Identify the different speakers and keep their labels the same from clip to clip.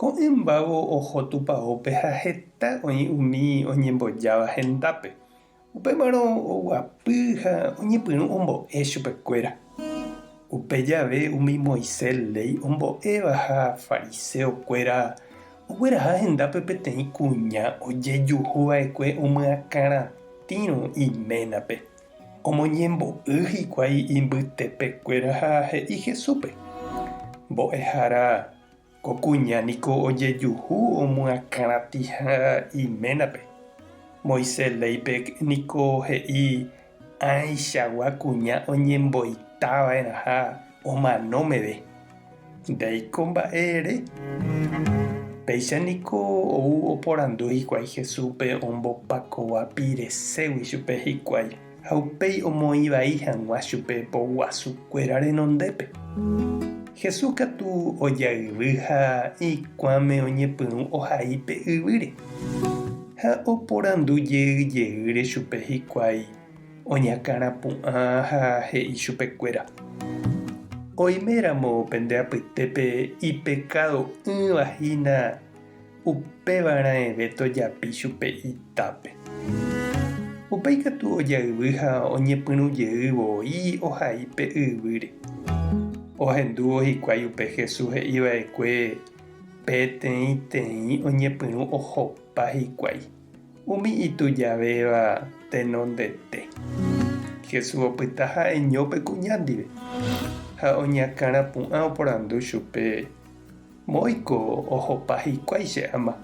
Speaker 1: Ko'ẽmbávo oho tupaópe ha heta oĩ umi oñembojáva hendápe. Upémarõ oguapy ha oñepyrũ ombo'e chupekuéra. Upe jave umi Moisés léi ombo'éva ha fariseokuéra ogueraha hendápe peteĩ kuña ojejuhu va'ekue omyakãratĩrõ iménape. Omoñembo'y hikuái imbytepekuéra ha he'i Jesúspe, Mbo'ehára, Ko kuña niko ojejuhu omyakãratĩha iménape. Moisés léipe niko he'i ãichagua kuña oñemboitava'erãha omano meve. Ndéiko mba'e ere. Péicha niko ou oporandu hikuái Jesúspe ombopakova pireségui chupe hikuái. Ha upéi omoĩ vai hag̃ua chupe po guasu kuéra renondépe. Jesús katu ojayvy ha ikuãme oñepyrũ ohai pe yvýre. Ha oporandu jey jeýre chupe hikuái oñakãrã pu'ã ha he'i chupe kuéra, Oime ramo pende apytépe ipekádo ỹva hína, Upéva raẽve tojapi chupe itápe. Upe ikatu ojayvy ha oñepyrũ jey voi ohai pe yvýre. Ohendúvo hikuái upe Jesús he'i va'ekue peteĩteĩ oñepyrũ ohopa hikuái, umi itujavéva tenondete. Jesús opyta ha'eño pe kuña ndive ha oñakãrapu'ã oporandu chupe. Moõiko ohopa hikuái che ama.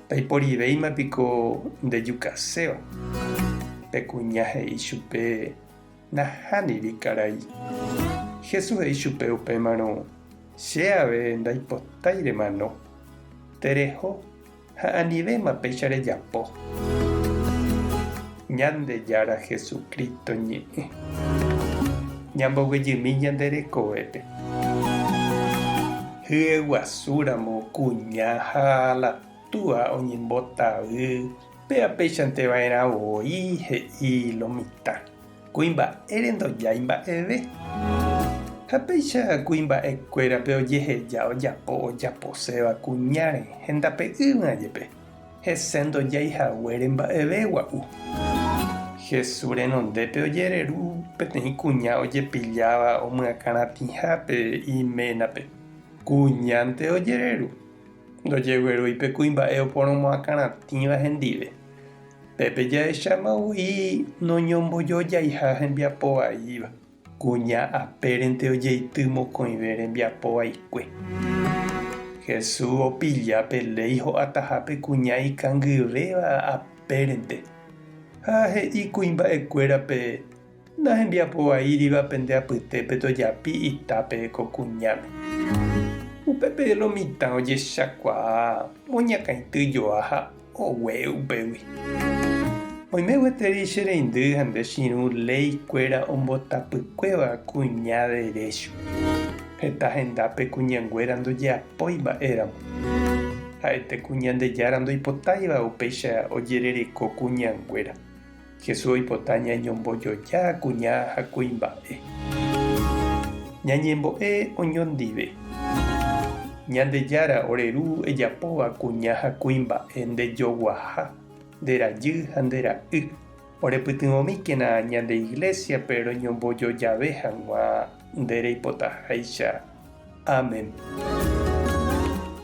Speaker 1: Taiporivéima piko ndejukaséva. Pe kuña he'i chupe, Nahániri karai. Jesús he'i chupe upémarõ, Che ave ndaipotái remano. Tereho Ha anivéma péicha rejapo. Ñandejára Jesucristo ñe'ẽ. Ñamboguejymi ñande rekovépe. Hyeguasu ramo kuña ha la túa oñembotavy péva peichanteva'erã voi, he'i lo mitã. Kuimba'ére ndojái mba'eve. Ha péicha kuimba'ekuérape ojeheja ojapo ojaposéva kuñáre hendape'ỹva jepe, hese ndojái haguére mba'eve gua'u. Jesús renondépe ojereru peteĩ kuña ojepilláva omyakãratĩhápe iménape. Kuñánte ojereru. Ndojeguerúi pe kuimba'e oporomoakãratĩva hendive. Pépe jahecháma voi noñombojojaiha hembiapo vaíva, kuña apérente ojeity mokõive rembiapo vaikue. Hesu opilla pe léi ho'ataha pe kuña ikangyvéva apérente ha he'i kuimba'ekuérape, Ndahembiapo vaíriva pende apytépe tojapi itápe ko kuñáme. Upépe lo mitã ojechakuaa moñakãity joa ha ogue upégui. Oime gueteri che reindy ha nde chirũ léi kuéra ombotapykuéva kuña derécho. Heta hendápe kuñanguéra ndojeapói mba'e ramo. Ha'ete kuñandejára ndoipotáiva upéicha ojerereko kuñanguéra. Jesús oipota ñañombojoja kuña ha kuimba'e. Ñañembo'e oñondive. Ñandejára, ore Ru ejapóva kuña ha kuimba'e ndejoguaha, nderajy ha nde Ra'y, orepytyvõmíkena ñande Iglésiape roñombojojave hag̃ua nde reipotaháicha. Amén.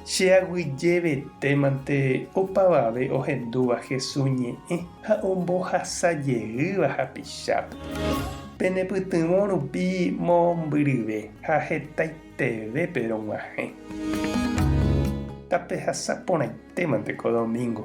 Speaker 1: Che aguyjevetémante opavave ohendúva Hesu ñe'ẽ ha ombohasajeýva hapichápe. Penepytyvõ rupi mombyryve ha hetaitevépe rog̃uahẽ. Tapehasa porãitémante ko domingo.